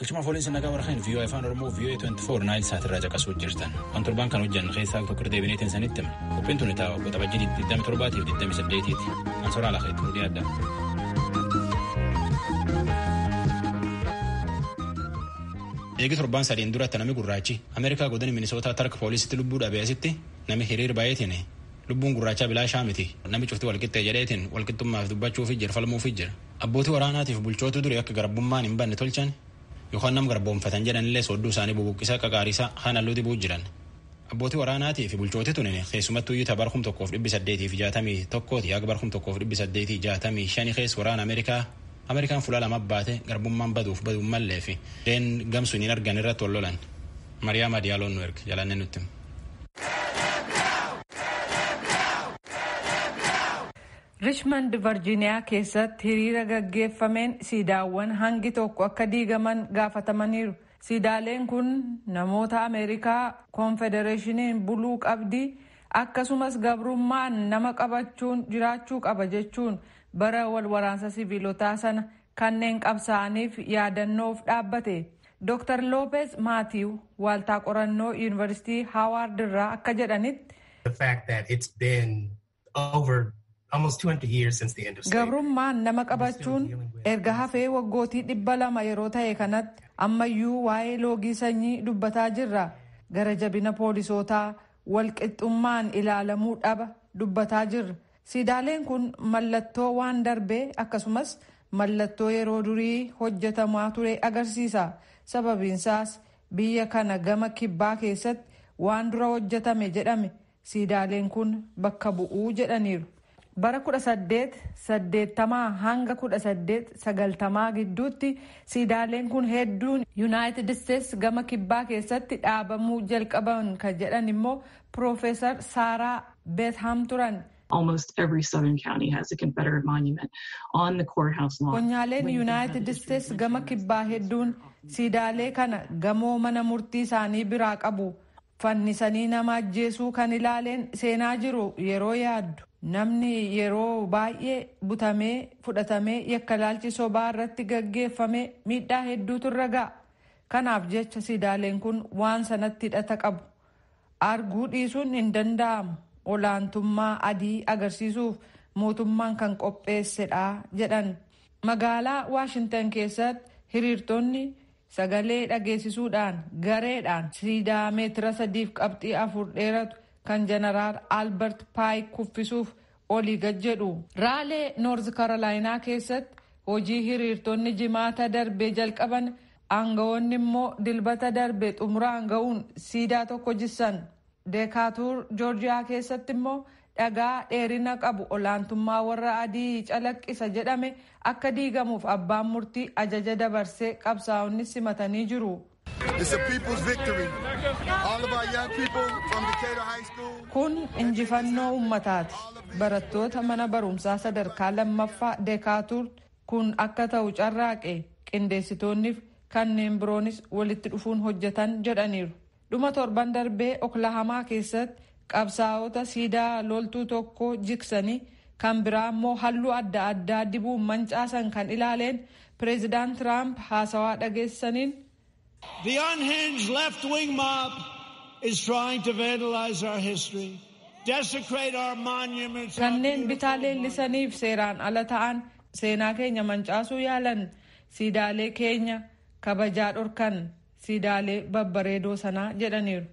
Galchuma fooliinsa nagaa warra kan VOA Afaan Oromoo VOA 24 Naayil Saat irraa caqasuu jirtan. Waan torbaan kan hojjannu keessaa tokko irra deebinee teessan itti himna. Qophiin tuni ta'a waggoota bajjii 27 fi 28 ti. An soraa lafa itti hudhee adda. Eegi torbaan sadeen duratti nami gurraachi Ameerikaa godina Minisootaa tarka poolisitti lubbuu dhabee asitti nami hiriir baay'eetiin lubbuun gurraachaa bilaashaa miti nami cufti walqixxee jedheetiin walqixxummaaf dubbachuufi jira falmuufi jira. Abbootii waraanaatiif bulchootu durii akka garbummaan hin banne tolchan yookaan nam garboomfatan jedhanillee soodduu isaanii bubuqqisaa qaqaarisaa kaan halluu dibuu jiran. Abbootii waraanaatii fi bulchooti tunin keessumattuu iyyuu tabar kum tokkoof dhibbi saddeetii fi jaatamii tokkooti haga bar kum tokkoof dhibbi saddeetii jaatamii shani keessa waraana Ameerikaa Ameerikaan fuula lama baate garbummaan baduuf baduun mallee fi deen gamsuun hin argan irratti wal lolan. Mariyaama Diyaaloon nu erga jalannee nutti. Richmond Varjiiniyaa keessatti hiriira gaggeeffameen siidaawwan hangi tokko akka diigaman gaafatamaniiru. Siidaaleen kun namoota Ameerikaa konfedereeshiniin buluu qabdi akkasumas gabrummaan nama qabachuun jiraachuu qaba jechuun bara wal waraansa siviilotaa sana kanneen qabsaa'aniif yaadannoof dhaabbate. Dr. Loopeez Maatiiw waaltaa qorannoo Yuunivarsiitii Haawaard irraa akka jedhanitti. The fact that it's been Gabrummaan nama qabachuun erga hafee waggootii dhibba lama yeroo ta'e kanatti ammayyuu waa'ee loogii sanyii dubbataa jirra. Gara jabina poolisootaa walqixxummaan ilaalamuu dhaba dubbataa jirra. Siidaaleen kun mallattoo waan darbee akkasumas mallattoo yeroo durii hojjetamaa ture agarsiisa. Sababiinsaas biyya kana gama kibbaa keessatti waan dura hojjetame jedhame Siidaaleen kun bakka bu'u jedhaniiru. Bara 1880 hanga 1890 gidduutti siidaaleen kun hedduun Yunaayitid Isteets gama kibbaa keessatti dhaabamuu jalqaban ka jedhan immoo Piroofeesar Saaraa Beetham turan. Almost every southern county has a Confederate monument on the courthouse lawn. Konyaaleen Yunaayitid Isteets gama kibbaa hedduun siidaalee kana gamoo mana murtii isaanii biraa qabu. Fannisanii nama ajjeesuu kan ilaaleen seenaa jiru yeroo yaaddu namni yeroo baay'ee butamee fudhatamee yakkalaalchi sobaa irratti gaggeeffame miidhaa hedduutu irra ga'a. Kanaaf jecha siidaaleen kun waan sanatti hidhata qabu. Arguu dhiisuun hin danda'amu. Olaantummaa adii agarsiisuuf mootummaan kan qopheessedha jedhan. Magaalaa Waashintan keessatti hiriirtonni Sagalee dhageessisuudhaan gareedhaan siidaa meetira sadiif qabxii afur dheeratu kan Janaraal Albert Paayik kuffisuuf olii gad jedhu. Raalee Noorz Karolaayinaa keessatti hojii hiriirtonni Jimaata darbe jalqaban aangawoonni immoo Dilbata darbe xumuraan ga'uun siidaa tokko jissan. Deekaatuur Joorjiyaa keessatti immoo dhagaa dheerina qabu olaantummaa warra adii calaqqisa jedhame akka diigamuuf abbaan murtii ajaja dabarse qabsaa'onnis simatanii jiru. It's a people's victory. All of our young people from Decatur High School. Kun injifannoo uummataati. Barattoota mana barumsaa sadarkaa lammaffaa Deekaatuur kun akka ta'u carraaqe qindeessitoonniif kanneen biroonis walitti dhufuun hojjetan jedhaniiru. Dhuma torban darbee Oklahamaa keessatti qabsaa'ota siidaa loltuu tokko jiksanii kan biraa immoo halluu adda addaa dibuun mancaasan kan ilaaleen pireezidaant Tiraamp haasawaa dhageessaniin. The unhinged left-wing mob is trying to vandalize our history, desecrate our monuments, our Kanneen bitaa beautiful monuments. leellisaniif seeraan ala ta'an seenaa keenya mancaasuu yaalan siidaalee keenya kabajaa dhorkan. siidaalee babbareedoo sanaa jedhaniiru.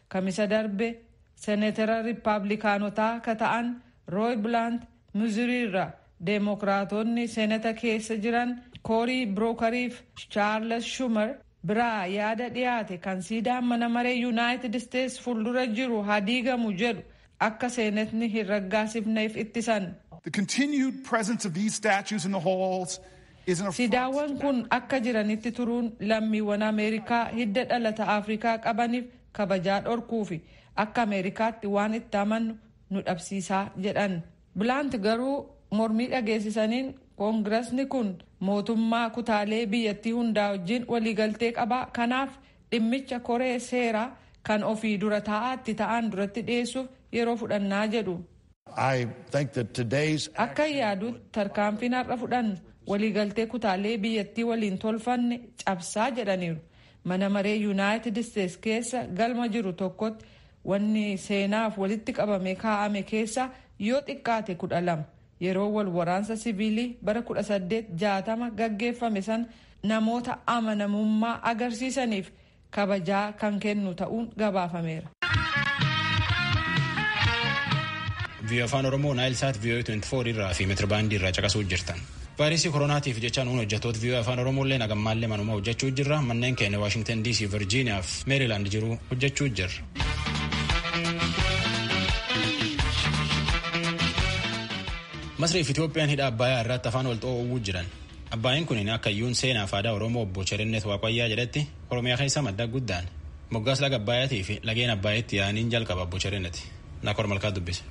Kamisa darbe Senetera Rippaablikaanotaa ka ta'an Rooy Bilaant Mizurii irra Deemokiraatoonni Seneta keessa jiran Koorii Birookarii fi Chaarles Schumer biraa yaada dhiyaate kan siidaan mana maree Yunaayitid Isteets fuuldura jiru ha diigamu jedhu akka seenetni hin raggaasifneef ittisan. The continued presence of these statues in the halls is an affront. Siidaawwan kun akka jiranitti turuun lammiiwwan Ameerikaa hidda dhalata Afrikaa qabaniif kabajaa dhorkuufi akka Ameerikaatti waan itti amannu nu dhabsiisaa jedhan. Bilaant garuu mormii dhageessisaniin Koongirasni kun mootummaa kutaalee biyyattii hundaa wajjin waliigaltee qaba kanaaf Dhimmicha koree seera kan ofii dura taa'aa itti ta'aan duratti dhiyeessuuf yeroo fudhannaa jedhu. Akkan yaadutti tarkaanfiin har'a fudhannu waliigaltee kutaalee biyyattii waliin tolfanne cabsaa jedhaniiru. Mana maree Yuunaayitid Isteets keessa galma jiru tokkotti wanni seenaaf walitti qabamee kaa'ame keessaa yoo xiqqaate kudha lama Yeroo wal waraansa siviilii bara 1860 gaggeeffame sana namoota amanamummaa agarsiisaniif kabajaa kan kennu ta'uun gabaafameera. Viiyoo Afaan Oromoo Naayil Saat Viiyoo 24 irraa fi meetirbaandii irraa caqasuu jirtan. Vaayirasii koronaatiif jecha nuun hojjettoota viiyoo Afaan Oromoo illee nagammaallee manuma hojjechuu jirra. Manneen keenya Waashingtan DC, Virgiiniyaa fi Meerilaand jiru hojjechuu jirra. Masrii fi Itoophiyaan hidha Abbayaa irratti afaan wal xoo'uu jiran. Abbaayeen kun akka iyyuun seenaaf aadaa Oromoo obbo Cherinnet Waaqayyaa jedhetti Oromiyaa keessa madda guddaan. Moggaas laga Abbaayaatii fi lageen Abbaayeetti yaa'aniin jalqaba obbo Cherinnet. Naakor Malkaa dubbise.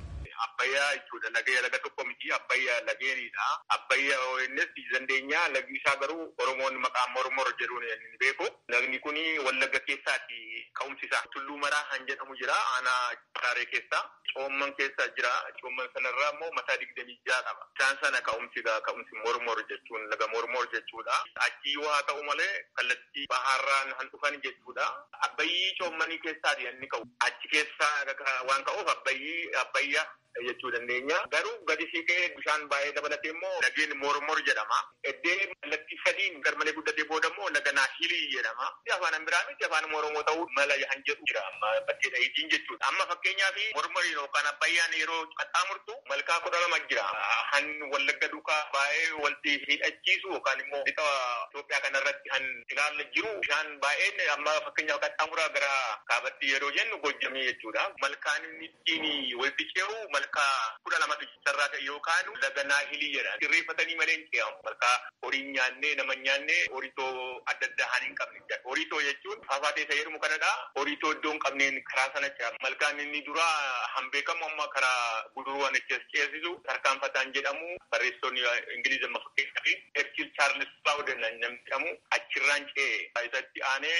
Abbayyaa jechuudha. Lagee laga tokko miti. Abbayyaa lageenidha. Abbayyaa ONS dandeenyaa lagni isaa garuu Oromoon maqaa mormor jedhuun beeku. Lagni kun Wallagga keessaati ka'umsi isaa. Tulluu Maraa kan jedhamu jira aanaa Hararee keessa. Coomman keessa jira. Coomman sanarraa immoo mataa digdamii ja'a qaba. Isaan sana ka'umsi egaa ka'umsi Mormor jechuun laga Mormor jechuudha. Achii yoo haa ta'u malee kallattii bahaarraan kan dhufan jechuudha. Abbayyii coommanii keessaati kan inni ka'u. Achi keessaa waan ka'uuf Abbayyii, Abbayyaa. jechuu dandeenya. Garuu gadi siiqee bishaan baay'ee dabalatee immoo lageen Mormor jedhama. Eddee kallattii sadiin garmalee guddatee booda immoo laga Naahilii jedhama. Afaan Amiraamiitti afaanuma Oromoo ta'uu mala yahan jedhu jira. Amma bakkee dhahiitiin jechuudha. Amma fakkeenyaaf Mormoriin yookaan Abbayyaan yeroo qaxxaamurtu malkaa kudha lama jira. Han Wallagga duukaa baay'ee walti hidhachiisu yookaan immoo lixa Itoophiyaa kanarratti han ilaalle jiru bishaan baay'een amma fakkeenyaaf qaxxaamuraa gara kaabatti yeroo jennu Gojjamii jechuudha. Malkaan inni Ittiin walitti ce'u malkaa kudha lamatu jira. Isarraa ka'e yoo kaanu laga Naahilii jedha. Sirreeffatanii malee hin ce'amu. Malkaa horii hin nyaanne, nama hin nyaanne, horitoo adda addaa haan hin qabne jira. Horitoo jechuun faafaatee isa jedhamu kanadha. Horitoo iddoo hin qabneen karaa sana ce'a. Malkaan inni duraa han beekamu amma karaa Guduruu han achi as ceesisu tarkaanfataan jedhamu. Barreessitoonni Ingiliiz amma fakkeenyaaf Churchill Charles Bowden namni jedhamu achirraan ce'e. Isatti aanee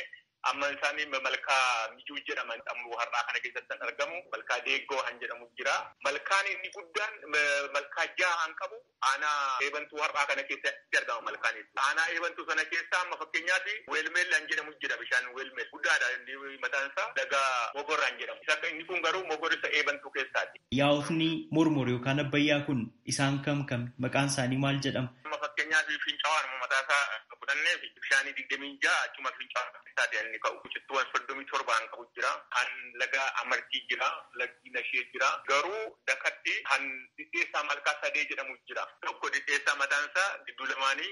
Amma isaan malkaa Mijuu jedhaman ammoo har'aa kana keessatti kan argamu malkaa Deeggoo kan jedhamu jira. Malkaan inni guddaan malkaa jaha kan qabu aanaa Eebantuu har'aa kana keessatti argama malkaan inni. Aanaa Eebantuu sana keessaa amma fakkeenyaaf Weelmeel kan jedhamu jira bishaan Weelmeel guddaadha inni mataan isaa laga Mogor kan jedhamu. Inni kun garuu Mogor isa Eebantuu keessaati. Yaa'otni Mormor yookaan Abbayyaa kun isaan kam kami? Maqaan isaanii maal jedhama? Amma fakkeenyaaf fincawaanuma mataa isaa fudhannee bishaanii digdamii ja'a achuma fincawaanuma isaati kan inni ka'u. Cittuuwwan soddomii torba kan qabu jira. Kan laga Amartii jira. Lagdi Nashee jira. Garuu dakatti kan dhidheessaa malkaa sadee jedhamu jira. Tokko dhidheessaa mataan isaa gidduu lamaanii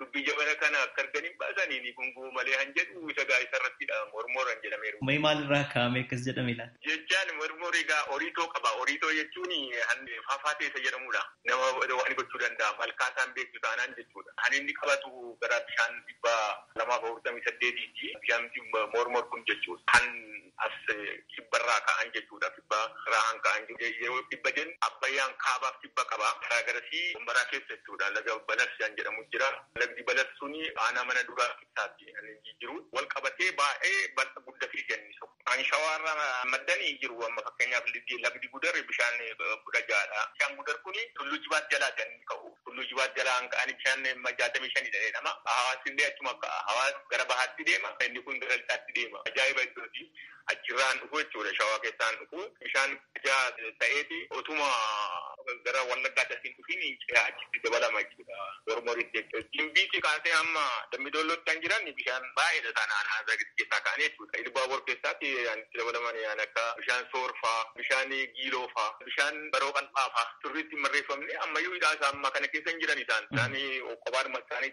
Dubbii jabana kana akka argan hin baasani ni gunguu malee han jedhu isa gaa'isa irratti dha. Mormor han jedhameeru. Mee maal irraa kaa'amee akkas jedhame laata? Jechaan mormor egaa oriitoo qaba. Oriitoo jechuun han faafaatee isa jedhamuu dha. Nama waan gochuu danda'a malkaa isaa hin beektu taanaan jechuu dha. Han inni qabatu gara bishaan 248 ti. Bishaan mormor kun jechuu dha. Han as kibba irraa ka'an jechuu dha. Kibba irraa hanga ka'an jiru. Yeroo kibba jennu Abbayyaan kaabaaf kibba qaba. Karaa garasii Wambaraa keessa jechuudha laga Balas kan jedhamu jira. Lagdi Balas suni aanaa mana duraa keessaati kan inni jiru. Wal qabatee baay'ee bal'a gudda fiiga inni tokko. Kan Shawaa irraa maddani jiru. Amma fakkeenyaaf lagdi Gudar bishaan 16 dha. Bishaan Gudar kuni Tulluu Jibaat jalaati kan inni ka'u. Tulluu Jibaat jalaa kan ka'ani bishaan 65 dha jedhama. Hawaas illee achuma ka'a. Hawaas gara bahaatti deema. Inni kun gara lixaatti deema. Ajaa'iba iddooti. achirraan dhufu jechuudha shawaa keessaan dhufu bishaan ijaa ta'eeti otuma gara wallaggaa dasiin dhufiin ce'aa achitti dabalama jechuudha mormoritti jechuudha gimbiitti kaasee amma dammidollootti kan jiran bishaan baay'eedha isaan aanaa zagitti keessaa ka'anii jechuudha ilbaabor keessaatti itti dabalaman yaan akka bishaan soorfaa bishaan giiloofaa bishaan baroo qal'aafaa turriitti marreeffamne ammayyuu hidhaa isaa amma kana keessa hin jiran isaan isaan qophaadhuma isaanii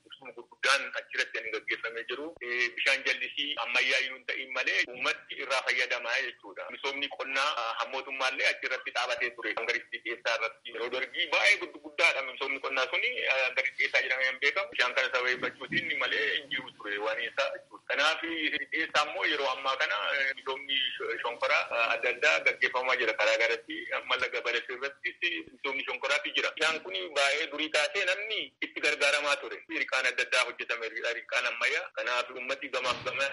Ibsuma gurguddaan achirratti kan gaggeeffamee jiru bishaan jallisii ammayyaayyuu hin ta'iin malee uummatti irraa fayyadama jechuudha. Misoomni qonnaa kan mootummaallee achirratti dhaabatee ture hanga Ristii Dhiyeessaa irratti. Yeroo Dargii baay'ee guddaadha misoomni qonnaa suni hanga Ristii Dhiyeessaa jedhamee kan beekamu. Bishaan kana sababeeffachuutiin malee hin jiru ture waan isaa jechuudha. Kanaaf Ristii Dhiyeessaa immoo yeroo ammaa kana misoomni shonkoraa adda addaa gaggeeffamaa jira karaa garatti amma laga Balasiirrattis. Misoomni shonkoraati jira. Bishaan kun baayee durii kaasee namni itti gargaaramaa ture. Hirqaan adda addaa hojjetameera. Hirqaan ammayyaa. Kanaaf uummati gamaaf gamana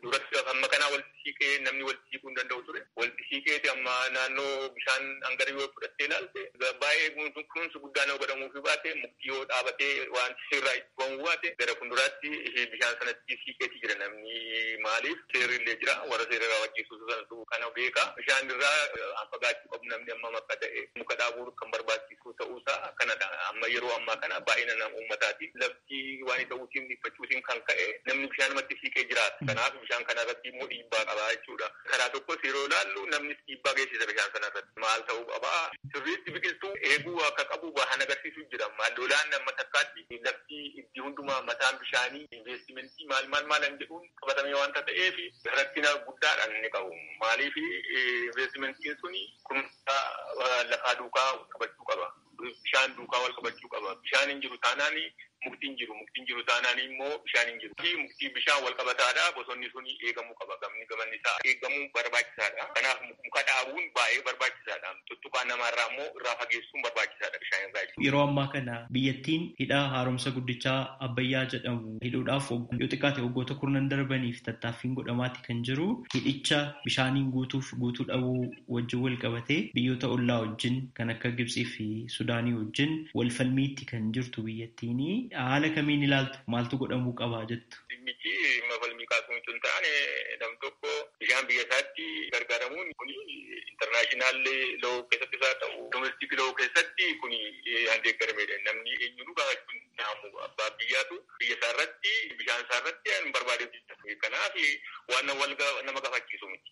duratti hamma kanaa walitti siiqee namni walitti siiquu hin danda'u ture. Walitti siiqeeti amma naannoo bishaan hanga yoo fudhattee ilaalte baayee kunuunsi guddaan yoo godhamuufii baate mukti yoo dhaabatee waan irraa itti ba'uu baate gara fuulduraatti bishaan sanatti siiqeeti jira namni. Maaliif seerri illee jira. Warra seera raawwachiisu. Dursansu kana beeka. Bishaan irraa haa fagaachuu qabu namni ammam akka ta'e. Muka dhaabuun kan barbaachisuu ta'uu isaa kanadha. Amma yeroo ammaa kana baay'ina uummataatiin lafti waan ta'uutiin dhiphachuutiin kan ka'e namni bishaanumatti siiqee jiraata. Kanaaf bishaan kana irratti immoo dhiibbaa qaba jechuudha. Karaa tokkos yeroo ilaallu namnis dhiibbaa geessisa bishaan sana irratti. Maal ta'uu qaba? Sirriitti biqiltuu eeguu akka qabu bahan agarsiisu jira. Amma lolaan amma takkaatti lafti iddii hundumaa mataan bishaanii investimentii maal maal maalan jedhuun qabatame waan ta'eef rakkina guddaadhaan inni qabu. Maaliif investimentiin sun kunuunsa lafaa duukaa qabachuu qaba. Bishaan duukaa wal qabachuu qaba. Bishaan hin jiru taanaan mukti hin jiru. Mukti hin jiru taanaan immoo bishaan hin jiru. Mukti bishaan wal qabataadha. Bosonni sun eegamuu qaba. Gamni gamanni isaa eegamuun barbaachisaadha. Kanaaf muka dhaabuun baay'ee barbaachisaadha. Dhugaa namaa irraa immoo irraa fageessuun barbaachisaadha bishaan irraa jechuudha. Yeroo ammaa kana biyyattiin hidha haaromsa guddichaa Abbayyaa jedhamu hidhuudhaaf yoo xiqqaate waggoota kurnan darbaniif tattaaffiin godhamaati kan jiru. Hidhicha bishaaniin guutuuf guutuu dhabuu wajjin wal qabatee biyyoota ollaa wajjin kan akka Gibtsii fi Sudaanii wajjin wal falmiitti kan jirtu biyyattiini. Haala kamiin ilaaltu? Maaltu godhamuu qaba jettu? Dhimmichi dhimma falmii kaasuu utuu hin taane nam tokko bishaan biyya isaatti gargaaramuun kun international law keessattis haa ta'u domestic law keessatti kun kan deeggaramedha. Namni eenyuunuu gaafachuu hin danda'amu. Abbaan biyyaatu biyya isaa irratti bishaan isaa irratti waan barbaade hojjeta. Kanaaf waan nama gaafachiisu miti.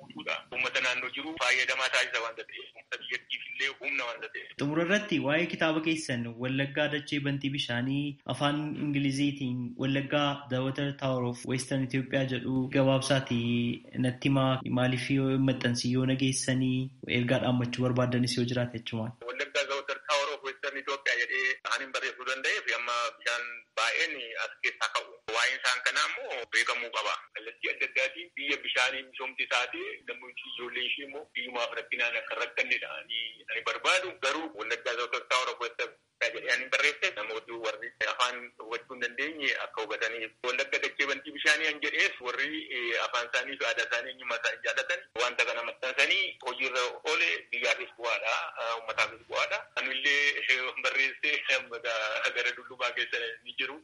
guutuudhaan uummata naannoo jiru faayadamaa taasisa waanta ta'eef uummata biyyattiif illee humna waanta ta'eef. Xumura irratti waa'ee kitaaba keessan Wallaggaa Dachee Bantii Bishaanii afaan Ingiliziitiin Wallaggaa The Water Tower of Western Ethiopia jedhu gabaabsaati natti himaa maaliif yoo hin maxxansin yoo nageessanii ergaa dhaammachuu barbaaddanis yoo jiraate achumaan. Wallaggaa The Water Tower of Western Ethiopia jedhee kan hin barreessuu danda'eef amma bishaan baay'een as keessaa ka'u. Waa'een isaan kanaa immoo beekamuu qaba. Kallattii adda addaatiin biyya bishaaniin misoomte taate namootni ijoolleen ishee immoo biyyumaaf rakkinaan akka hin rakkannedha ani barbaadu. Garuu Wallaggaa Zootar Taawor of Wallagga jedhee ani barreesse namootni warri afaan hubachuu hin dandeenye akka hubataniif. Wallagga dachee bantii bishaanii an jedhees warri afaan isaanii fi aadaa isaanii eenyummaa isaanii jaallatan wanta kana maxxansanii hojiirra oole biyyaafis bu'aadha, uummataafis bu'aadha. Anillee barreessee gara dullumaa geessan ni jiru.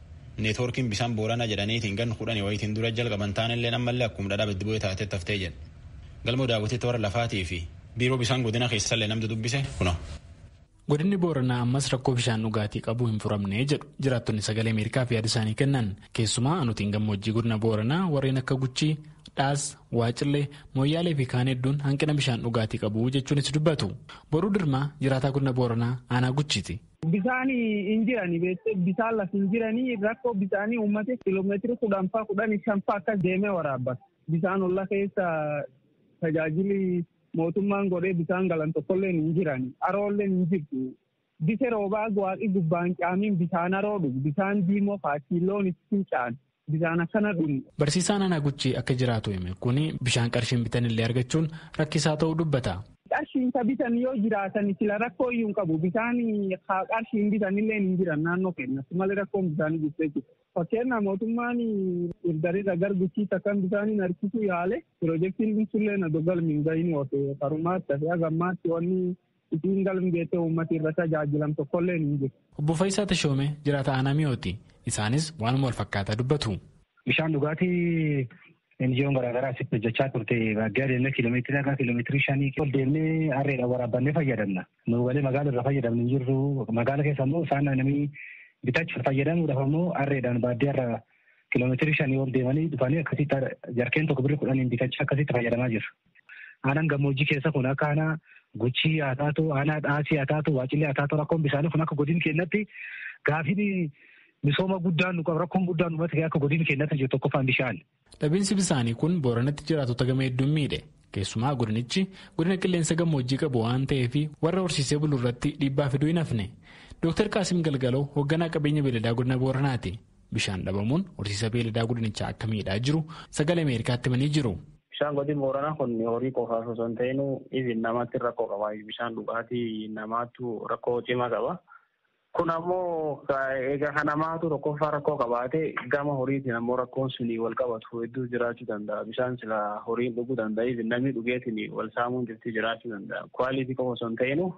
Neetwoorkiin bisaan Booranaa jedhaniitiin ganna kudhanii wayiitiin dura jalqaban taanilleen ammallee akkuma dhadhaa baddi bu'ee taatetti haftee jedha. Galmoo Daawwititti warra lafaatii fi biiroo bisaan godina keessallee namtu dubbise kuno. Godinni Booranaa ammas rakkoo bishaan dhugaatii qabu hin furamne jedhu jiraattonni sagalee Ameerikaaf yaada isaanii kennan keessumaa aanotiin gammoojjii godina Booranaa warreen akka Guchii, Dhaas, Waacillee, Mooyyaalee fi kaan hedduun hanqina bishaan dhugaatii qabu jechuunis dubbatu. Boruu Dirmaa jiraataa godina Booranaa aanaa Guchiiti. Bisaani injirani beekte bisaan laf injirani rakkoo bisaanii uummate kilomeetiri kudhan faa kudhan shan faa akkas deemee waraabbata. Bisaan olla keessa tajaajili mootummaan godhee bisaan galan tokkolleen hin jiran aroolleen hin jirtu. Bise roobaa waaqi gubbaan caamiin bisaan aroo dhugu bisaan diimoo faachiilloon itti fincaan. Bishaan akkana dhun. Barsiisaan Aanaa Guchii akka jiraatu hime kun bishaan qarshiin bitanillee argachuun rakkisaa ta'uu dubbata. Qarshiin isa bitan yoo jiraatan sila rakkoo iyyuu hin qabu. Bishaan qarshiin bitanillee hin jiran naannoo keenyatti malee rakkoon bishaanii jirtu jechuudha. Fakkeenyaaf mootummaan irdarirra gar guchiitti akkan bishaaniin harkisuu yaale piroojeektiin dhimsullee na dogalmi hin gahinii ofe farumaatti hafe hagammaatti wanni Isiin galm geettee uummati irra tajaajilam tokkolleen hin jiru. Obbo Fayisaa Tashoomee jiraataa aanaa Mi'ooti. Isaanis waanuma walfakkaataa dubbatu. Bishaan dhugaatii NGO'n garaagaraa asitti hojjechaa turte baadiyyaa deemnee kiiloomeetirii haga kiiloomeetirii shanii ol deemnee harreedhaan waraabbannee fayyadamna. Nu galee magaala irra fayyadamnu hin jirru. Magaala keessa immoo isaan namni bitachuuf fayyadamuudhaaf immoo harreedhaan baadiyyaa irra kiiloomeetirii shanii ol deemanii dhufanii akkasitti jarkeen tokko birri kudhaniin bitachaa akkasitti fayyadamaa jiru. Aanaan gammoojjii keessa kun akka aanaa Guchii haa taatu, aanaa Dhaasii haa taatu, Waacillee haa taatu rakkoon bishaanii kun akka godin keenyatti gaafiin misooma guddaan nu qabu rakkoon guddaan uummata akka godin keenyatti jiru tokkoffaan bishaan. Dhabiinsi bisaanii kun booranatti jiraatota gama hedduun miidhe. Keessumaa godinichi godina qilleensa gammoojjii qabu waan ta'eef warra horsiisee bulu irratti dhiibbaa fiduu hin hafne. Dooktar Qaasim Galgaloo hoogganaa qabeenya beeladaa godina Booranaati. Bishaan dhabamuun horsiisa beeyladaa godinichaa akka miidhaa jiru sagalee Ameerikaatti himanii jiru. Bishaan godin booranaa kun horii qofaaf osoo hin ta'in even namaatti rakkoo qaba. Bishaan dhugaatii namaatu rakkoo cimaa qaba. Kun ammoo egaa kan namaatu tokkoffaa rakkoo qabaate gama horiitiin ammoo rakkoon sunii wal qabatu hedduu jiraachuu danda'a. Bishaan sila horiin dhuguu danda'a. Even namni dhugeetiin wal saamuun jirti jiraachuu danda'a. Kwaaliitii qofa osoo hin ta'inu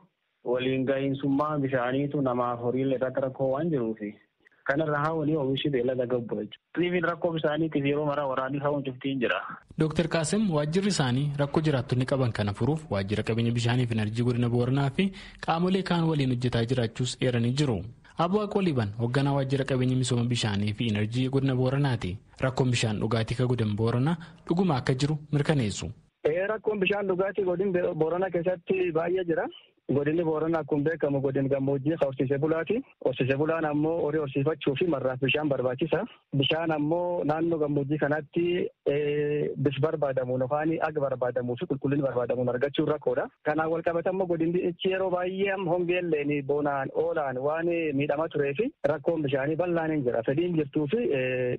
Waliin gahiinsummaa bishaaniitu namaaf horiilee irratti rakkoo waan jiruufi. Kanarra haawanii omishi beelada gabbu jechuudha. Riifiin rakkoo bishaaniitiif yeroo maraa waraanni haawwan cuftiin jira. Dooktar Qaasim waajjirri isaanii rakkoo jiraattonni qaban kana furuuf waajjira qabeenya bishaanii fi enerjii godina Booranaa fi qaamolee kaan waliin hojjetaa jiraachuus eeranii jiru. Abuu Aqooliban hoogganaa waajjira qabeenya misooma bishaanii fi enerjii godina Booranaati. Rakkoon bishaan dhugaatii ka godina Booranaa dhuguma akka jiru mirkaneessu. Ee rakkoon bishaan dhugaatii godin Boorana keessatti baay'ee jira. Godinni Boorana akkuma beekamu godin gammoojjii ka horsiise bulaati. Horsiise bulaan ammoo horii horsiifachuu fi marraaf bishaan barbaachisa. Bishaan ammoo naannoo gammoojjii kanaatti bis barbaadamuun yookaan ag barbaadamuu fi qulqullinni barbaadamuun argachuun rakkoodha. Kanaan walqabata immoo godinichi yeroo baay'ee amma hongeelleen bonaan oolaan waan miidhamaa turee fi rakkoon bishaanii bal'aan hin jira. Fedhiin jirtuu fi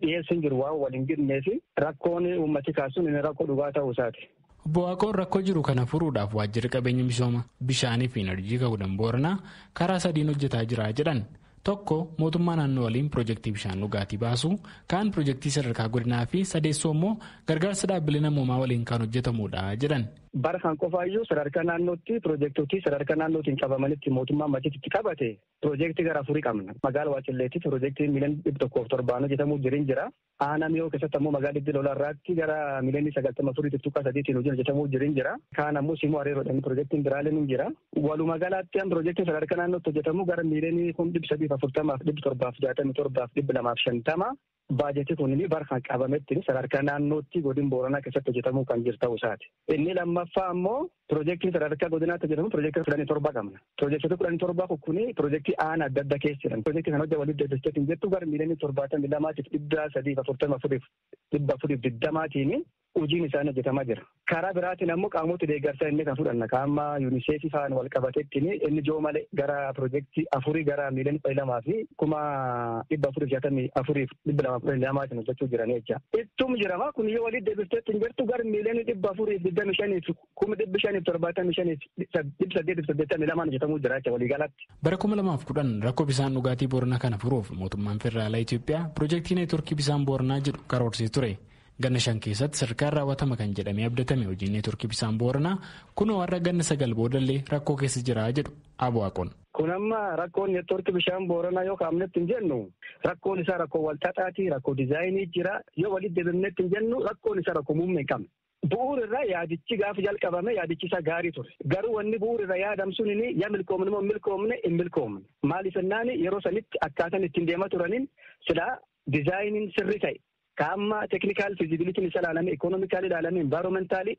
dhiyeessi hin jiru waan wal hin gidnee fi rakkoon uummati kaasuun inni rakkoo dhugaa ta'uu isaati. Obbo Waaqoon rakkoo jiru kana furuudhaaf waajjirri qabeenya misooma bishaanii fi enerjii Kaawudan Booranaa karaa sadiin hojjetaa jira jedhan. Tokko mootummaa naannoo waliin pirojektii bishaan dhugaatii baasuu, kaan pirojektii sadarkaa godinaa fi sadeessoo immoo gargaarsa dhaabbilee namoomaa waliin kan hojjetamudha jedhan. Bara kan qofaayyuu sadarkaa naannootti pirojektotii sadarkaa naannootiin qabamanitti mootummaan machitti qabate pirojektii gara afurii qabna. Magaala Waacilleettis pirojektiin miiliyoona dhibba tokkoof torbaan hojjetamuu jirin jira. Aanaa Mi'oo keessatti ammoo magaalaa Diddi Lolaa irraatti gara miliyoonii 94.3 tiin hojiin hojjetamuu jiru hin jira. Kaan ammoo Simoo Areeroodhaan pirojektiin biraaleen hin jira. Walumaa galaatti amma pirojektiin sadarkaa naannootti hojjetamu gara miliyoonii kun 340 fi 767 fi 250 baajetii kun bara kan qabametti sadarkaa naannootti godina Booranaa keessatti hojjetamuu kan jiru ta'uu isaati. Inni lammaffaa ammoo Pirojektiin sadarkaa godinaatti hojjetamu pirojektii kudhanii torba qabna. Pirojektoota kudhanii torbaa kukkuni pirojektii aana adda addaa keessa jiran. Pirojektii kana hojja waliif deebistee hin jettu gara miiliyoonii torbaatamii lamaatiif dhibba sadiif afurtama afuriif dhibba afuriif digdamaatiin hojiin isaanii hojjetamaa jira. Karaa biraatiin ammoo qaamota deeggarsaa inni kan fudhanna. Qaama UNICEF faan wal qabateettiin inni joo malee gara pirojektii afurii gara miiliyoonii kudha lamaa fi kuma dhibba afuriif jaatamii afuriif dhibba lamaaf kudhan lama isin hojjechuu jiranii jecha. Ittum jirama kun yoo walitti deebiftee ittiin jirtu gara miiliyoonii dhibba afuriif digdami shaniif kuma dhibbi shaniif torbaatamii shaniif dhibba saddeetiif saddeettamii lamaan hojjetamuu jira jecha waliigalatti. Bara kuma lamaaf kudhan rakkoo bishaan dhugaatii Booranaa kana furuuf mootummaan federaalaa Itoophiyaa piroojeektii neetworkii bishaan Booranaa jedhu karoorsee ture. Ganna shan keessatti sadarkaan raawwatama kan jedhamee abdatame hojiin neetworkii bishaan Booranaa kunoo har'a ganna sagal boodallee rakkoo keessa jira jedhu Abuwaaqoon. Kun amma rakkoon network bishaan Booranaa yoo kaafnetti hin jennu rakkoon isaa rakkoo walxaxaati, rakkoo dizaayinii jira. Yoo walitti deebifnetti hin jennu rakkoon isaa rakkoo muummee hin qabne. Bu'uur irraa yaadichi gaafa jalqabame yaadichi isaa gaarii ture. Garuu wanni bu'uur irra yaadam sunini yaa milkoomne moo milkoomne hin milkoomne. Maaliif jennaan yeroo sanitti akkaataan ittiin deema turanin silaa dizaayiniin sirrii ta'e. Ka amma technical feasibility isa ilaalame, economically ilaalame, environmentally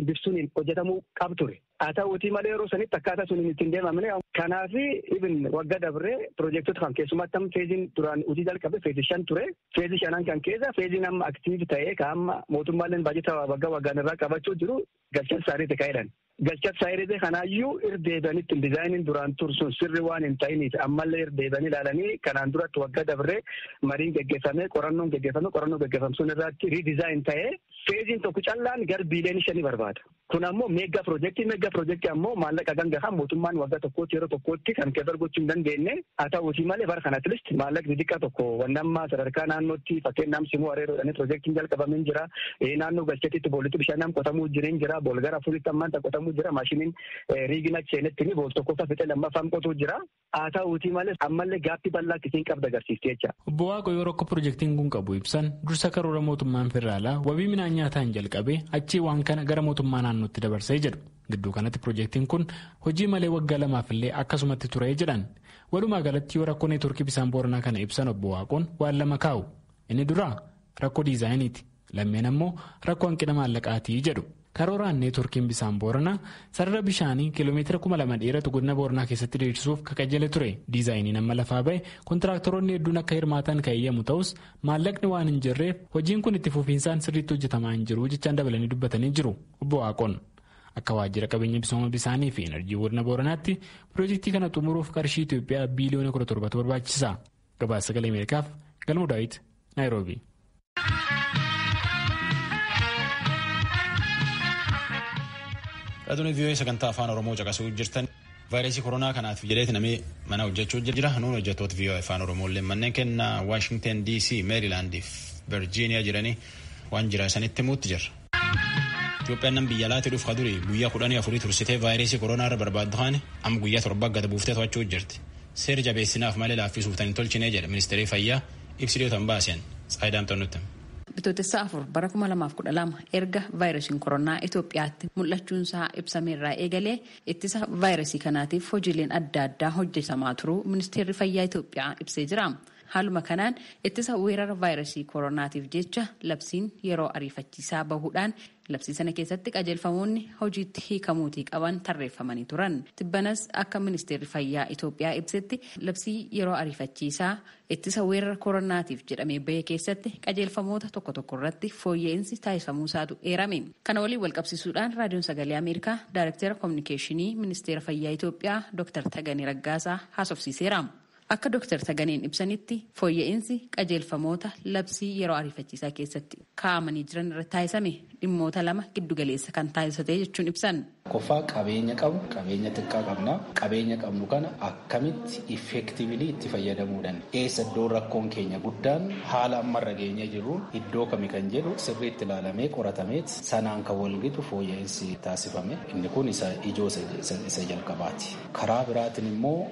biftuniin hojjetamuu qab ture. Haa ta'uutii malee yeroo sanitti akkaataa suniin ittiin deemamne. Kanaaf even wagga dabree piroojektota kan keessumatti amma feeziin duraan hojii jalqabe feezii shan ture. Feezii shanan kan keessa feeziin amma aktiiv ta'ee ka amma mootummaaleen baajata waggaa waggaan irraa qabachuu jiru galchan isaaniiti ka'edhan. Galchas saayirezee kanaayyuu irra deebi'anitti dizaayiniin duraan ture sun sirri waan hin ta'iniif ammallee irra deebi'anii ilaalanii kanaan duratti waggaa dabree mariin geggeeffamee qorannoon geggeeffamee qorannoo geggeeffamu sun irratti riidizaayin ta'ee feeziin tokko callaan gar biiliyoonii shanii barbaada. Kun ammoo meeggaa piroojeektii meeggaa piroojeektii ammoo maallaqa ganga kan mootummaan waggaa tokkootti yeroo tokkootti kan keebar gochuu hin dandeenye Haa ta'uutii malee bara kana at least maallaqni diqqaa tokko wanni amma sadarkaa naannootti fakkeen naam simuu areeroo jedhanii pirojektiin jalqabame hin jira. Naannoo galchatitti boolitti bishaan naam qotamuu jiru hin jira. Bool gara afuritti ammaan tan qotamuu jira. Maashiniin riigin achi seenetti ni bool tokkoffaa fixee lammaffaan qotuu jira. Haa ta'uutii malee ammallee gaaffii bal'aa akka isiin qabda agarsiifti jecha. Obbo Waaqo yoo rakkoo pirojektiin kun qabu ibsan dursa karoora mootummaan federaalaa wabii midhaan nyaataan jalqabee achii waan kana gara mootummaa naannootti dabarsee jedhu. Gidduu kanatti pirojektiin kun hojii malee waggaa lamaaf illee akkasumatti ture jedhan. Walumaa galatti yoo rakkoo neetworkii bisaan booranaa kana ibsan obbo Waaqoon waan lama kaa'u. Inni duraa rakkoo diizaayiniiti. Lammeen ammoo rakkoo hanqina maallaqaatii jedhu. Karooraan neetworkiin bisaan booranaa sarara bishaanii kiiloomeetira kuma lama dheeratu godina booranaa keessatti diriirsuuf kakajjale ture. Diizaayiniin amma lafaa ba'e kontiraaktaroonni hedduun akka hirmaatan kan eeyyamu ta'us Maallaqni waan hin jirreef hojiin kun itti fufiinsaan sirriitti hojjetamaa hin jiru jechaan dabalanii dubbatanii jiru obbo Waaqoon. Akka waajjira qabeenya misooma bisaanii fi enerjii godina Booranaatti pirojektii kana xumuruuf qarshii Itoophiyaa biiliyoona 17 barbaachisa. Gabaasa sagalee Ameerikaaf Galmuu Daawit Naayiroobi. Raadiyoo sagantaa afaan Oromoo caqasuu jirtan. Vaayirasii koronaa kanaaf jedheeti namni mana hojjechuu jira. Nuun hojjettoota VOA Afaan Oromoollee manneen kenna Waashingten DC, Meerilaand fi Virjiiniyaa jiranii waan jira isanitti himuutti jirra. Itoophiyaan nam biyya alaatti dhufu kaduri guyyaa kudhanii afurii tursitee vaayirasii koronaa irra barbaaddu haani amma guyyaa torba gad buuftee to'achuu jirti. Seera jabeessinaaf malee laaffisuuf tan hin tolchinee jedha ministeerii fayyaa ibsi dhiyootan baaseen Tsaayidaam Xannutti. Bitootessa afur bara 2012 erga vaayirasiin koronaa Itoophiyaatti mul'achuunsaa ibsameerraa eegalee Ittisa vaayirasii kanaatiif hojiileen adda addaa hojjetamaa turuu Ministeerri Fayyaa Itoophiyaa ibsee jira. Haaluma kanaan ittisa weerara vaayirasii koronaatiif jecha labsiin yeroo ariifachiisaa bahuudhaan labsii sana keessatti qajeelfamoonni hojiitti hiikamuutii qaban tarreeffamanii turan. Tibbanas akka Ministeerri Fayyaa Itoophiyaa ibsetti labsii yeroo ariifachiisaa Ittisa weerara koronnaatiif jedhamee bahe keessatti qajeelfamoota tokko tokko irratti fooyya'insi taasifamuu isaatu eerame. Kana waliin walqabsiisuudhaan Raadiyoon Sagalee Ameerikaa Daayrektera Kominikeeshinii Ministeera Fayyaa Itoophiyaa Dooktar Taganee Raggaasaa haasofsiiseera. Akka Dooktar Taganeen ibsanitti fooyya'insi qajeelfamoota labsii yeroo ariifachiisaa keessatti kaa'amanii jiran irratti taasifame dhimmoota lama giddugaleessa kan taasisate jechuun ibsan. Tokkoffaa qabeenya qabnu qabeenya xiqqaa qabna. Qabeenya qabnu kana akkamitti effectively itti fayyadamuu dandeenya? Eessa iddoon rakkoon keenya guddaan haala amma irra geenyee jirruun iddoo kami kan jedhu sirriitti ilaalamee qoratameet sanaan kan walgitu fooyya'insi taasifame inni kun isa ijoo isa jalqabaati. Karaa biraatiin immoo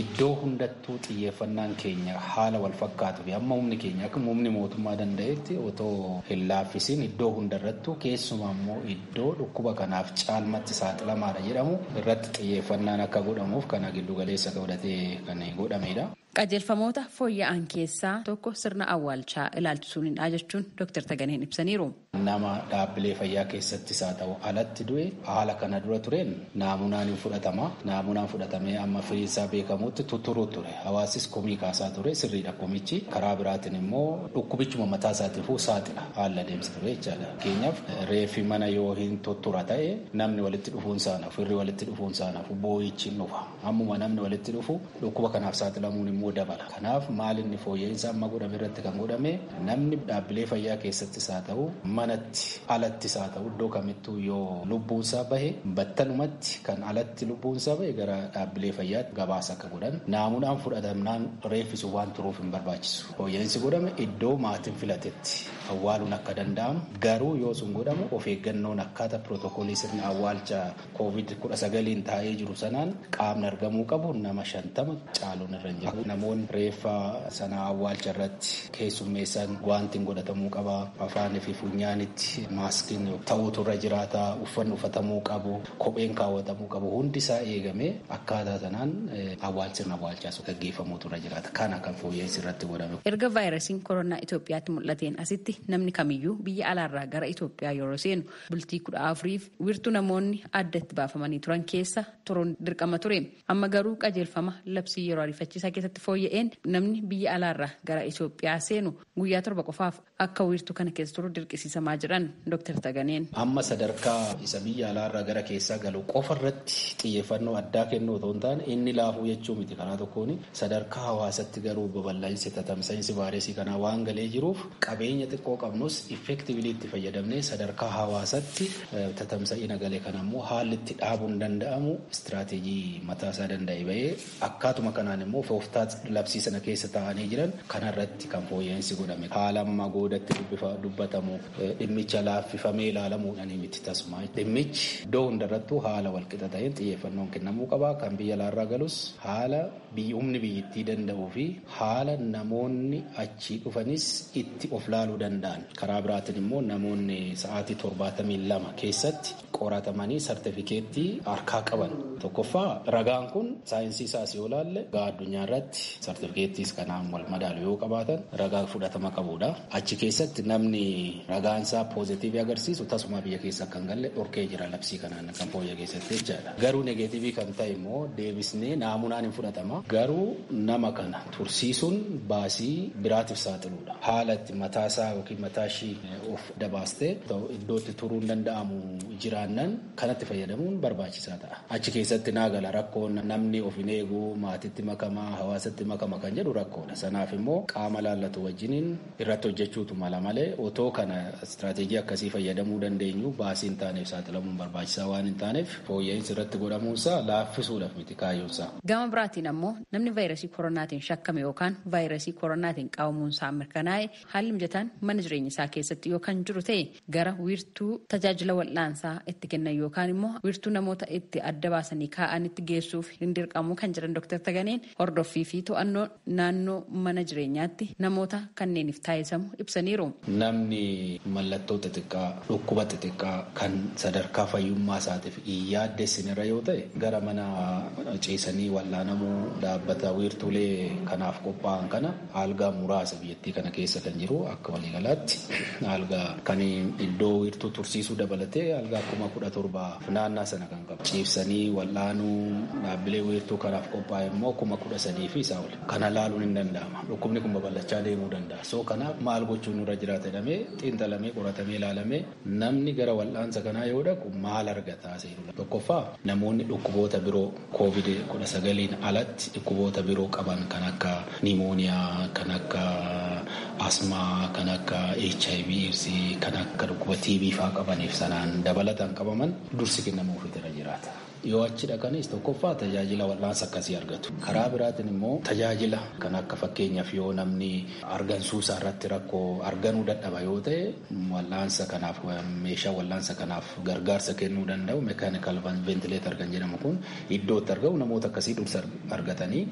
iddoo hundattuu xiyyeeffannaan keenya haala walfakkaatuu fi amma humni keenya akka humni mootummaa danda'etti otoo hin laaffisiin iddoo hundarrattuu keessumaa immoo iddoo dhukkuba kanaaf caalmatti saaxilamaadha jedhamu irratti xiyyeeffannaan akka godhamuuf kana giddugaleessa godhatee kan godhamedha. Qajeelfamoota fooyya'an keessaa tokko sirna awwaalchaa ilaalchisuunidha jechuun Doktar Taganeen ibsaniiru. Nama dhaabbilee fayyaa keessattis haa ta'u alatti du'e haala kana dura tureen naamunaan hin fudhatama. Naamunaan fudhatamee amma firiinsaa beekamutti tutturuu ture. Hawaasis komii kaasaa ture sirriidha komichi karaa biraatiin immoo dhukkubichuma mataa isaatiifuu saaxila haala adeemsa ture jechaadha. Fakkeenyaaf reeffi mana yoo hin tuttura ta'e namni walitti dhufuun saanaaf firri walitti dhufuun saanaaf boo'ichi hin dhufa. Ammuma namni walitti dhufu dhukkuba kanaaf saaxilamuun immoo dabala. Kanaaf maal inni fooyya'insa amma godhame irratti kan godhame namni dhaabbilee fayyaa keessattis haa ta'u manatti alattis haa ta'u iddoo kamittuu yoo lubbuunsaa bahe battalumatti kan alatti lubbuunsaa bahe gara dhaabbilee fayyaatti gabaasa akka godhan naamunaan fudhatamnaan reeffi sun waan turuuf hin barbaachisu. Fooyya'insi godhame iddoo maatiin filatetti awwaaluun akka danda'amu garuu yoo sun godhamu of eeggannoon akkaataa pirootokoolii sirna awwaalcha koovid 19n taa'ee jiru sanaan qaamni argamuu qabu nama shantama caaluun irra hin jiru. Namoonni reeffa sana awwaalcha irratti keessummeessan guwaantiin godhatamuu qaba. Afaanii fi funyaanitti maaskiin ta'uutu irra jiraata. Uffanni uffatamuu qabu, kopheen kaawwatamuu qabu hundi isaa eegamee Akkaataa sanaan awwaal sirna awwaalchaas gaggeeffamuutu irra jiraata. Kana kan fooyya'insi irratti godhame. Erga vaayirasiin koronaa Itoophiyaatti mul'ateen asitti namni kamiyyuu biyya alaarraa gara Itoophiyaa yeroo seenu bultii kudha afuriif wiirtuu namoonni adda itti baafamanii turan keessa turuun dirqama ture. Amma garuu qajeelfama labsii yeroo ariifachiisaa keessatti fooyya'een namni biyya alaarraa gara Itoophiyaa seenu guyyaa torba qofaaf akka wiirtuu kana keessa turu dirqisiisamaa jiran Dr. Taganeen. Amma sadarkaa isa biyya alaarraa gara keessaa galu qofa irratti xiyyeeffannoo addaa kennuu otoo hin taane inni laafuu jechuu miti karaa tokkoon sadarkaa hawaasatti garuu babal'insi tatamsa'insi vaayiresii kanaa waan galee jiruuf qabeenya xiqqoo qabnus effectively itti fayyadamnee sadarkaa hawaasatti tatamsa'ina gale kana immoo haalli itti dhaabuun danda'amu istiraateejii mataa isaa danda'e ba'ee Akkaatuma kanaan immoo fooftaat labsii sana keessa taa'anii jiran kanarratti kan fooyya'iinsi godhame haala ammaa goodatti dubbatamu dhimmicha laaffifamee ilaalamuudhani miti tasuma dhimmichi iddoo hundarrattuu haala walqixa ta'een xiyyeeffannoon kennamuu qaba kan biyya alaarraa galus haala humni biyyittii danda'uu fi haala namoonni achii dhufanis itti of laaluu danda'an karaa biraatiin immoo namoonni sa'aatii torbaatamii lama keessatti qoratamanii sartifikeettii harkaa qaban tokkoffaa ragaan kun saayinsii isaas yoo laalle ragaa addunyaa irratti sartifikeettiis kanaan wal madaalu yoo qabaatan ragaa fudhatama qabudha. Achi keessatti namni ragaan isaa poozitiivii agarsiisu tasumaa biyya keessa akka hin galle dhorkee jira labsii kanaan kan fooyyee keessatti jechaadha. Garuu negeetiivii kan ta'e immoo deebisnee naamunaan hin fudhatama. Garuu nama kana tursiisuun baasii biraatiif saaxiluudha. Haala itti mataasaa yookiin mataashii of dabaastee ta'u iddoo itti turuun danda'amu jiraannan kanatti fayyadamuun barbaachisaa ta'a. Achi keessatti naa gala rakkoon namni of hin eegu maatitti makama hawaasatti makama kan jedhu rakkoodha. Sanaaf immoo qaama laallatu wajjiniin irratti hojjechuutu mala malee otoo kana istiraateejii akkasii fayyadamuu dandeenyu baasii hin taaneef saaxilamuun barbaachisaa waan hin taaneef fooyya'insi irratti godhamuunsaa laaffisuudhaaf miti kaayyoonsaa. Gama biraatiin ammoo namni vaayirasii koronaatiin shakkame yookaan vaayirasii koronaatiin qabamuunsaa mirkanaa'e Haalli mijataan mana jireenya isaa keessatti yoo kan jiru ta'e gara wiirtuu tajaajila wal'aansaa itti kennan yookaan immoo wiirtuu namoota itti adda baasanii kaa'anitti geessuuf hin dirqamu kan jedhan Dooktar Taganeen hordoffii fi to'annoo naannoo mana jireenyaatti namoota kanneeniif taasisamu ibsaniiru. Namni mallattoo xixiqqaa, dhukkuba xixiqqaa kan sadarkaa fayyummaa isaatiif hin yaaddessinirra yoo ta'e gara mana ciisanii wal'aanamuu dhaabbata wiirtuulee kanaaf qophaa'an kana Aalgaa muraasa biyyattii kana keessa kan jiru akka waliigalaatti aalgaa kan iddoo wiirtuu tursiisuu dabalatee aalgaa kuma kudha torba naannaa sana kan qabu. Ciibsanii wal'aanuu dhaabbilee wiirtuu kanaaf qophaa'e immoo kuma kudha sadii fi isaa oli. Kana ilaaluun hin danda'ama. Dhukkubni kun babal'achaa deemuu danda'a. So kanaaf maal gochuun nurra jiraata jedhamee xiinxalamee qoratamee ilaalamee Namni gara wal'aansa kanaa yoo dhaqu maal argata? Tokkoffaa namoonni dhukkuboota biroo Covid 19n alatti dhukkuboota biroo qaban kan akka Nimooniyaa, kan akka Asmaa, kan akka hiv, aids, kan akka dhukkuba TB faa qabaniif sanaan dabalataan qabaman dursi kennamuufiitu irra jiraata. Yoo achi dhaqanis tokkoffaa tajaajila wal'aansa akkasii argatu. Karaa biraatiin immoo tajaajila kan akka fakkeenyaaf yoo namni argansuu isaa irratti rakkoo arganuu dadhaba yoo ta'e wal'aansa kanaaf meeshaa wal'aansa kanaaf gargaarsa kennuu danda'u mechanical ventilator kan jedhamu kun iddoo itti argamu namoota akkasii dursa argatanii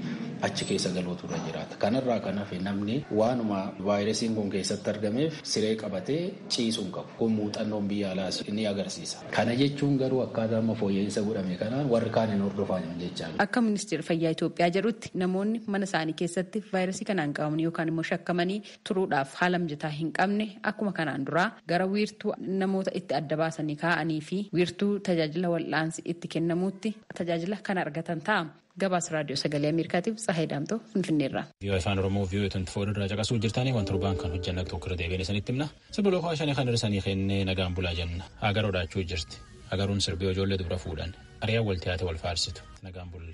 achi keessa galuutu irra jiraata. Kanarraa kan hafe namni waanuma vaayirasiin kun keessatti argameef siree qabatee ciisuu hin qabu. Kun muuxannoon biyya alaas ni agarsiisa. Kana jechuun garuu akkaataa amma fooyya'iinsa godhame kanaan warri kaan hin hordofan jechaa miti. Akka Ministeerri Fayyaa Itoophiyaa jedhutti namoonni mana isaanii keessatti vaayirasii kanaan qabamanii yookaan immoo shakkamanii turuudhaaf haala mijataa hin qabne akkuma kanaan duraa gara wiirtuu namoota itti adda baasanii kaa'anii fi wiirtuu tajaajila wal'aansi itti kennamuutti tajaajila kan argatan ta'a. Gabaasa Raadiyoo Sagalee Ameerikaatiif Tsahaay Daamtoo Finfinneerraa. Vii'oo Afaan Oromoo vii'oo 24 irraa caqasuu jirtanii waan torbaan kan hojjanna tokko irra deebiin isinitti himna. Sirbi lookoo shanii kan dhirsanii kennee nagaan bulaa jenna. Agaroo dhaachuu jirti. Agaruun sirbii ijoollee dubra fuudhan. Ari'aan wal tiyaate wal faarsitu. Nagaan bulla.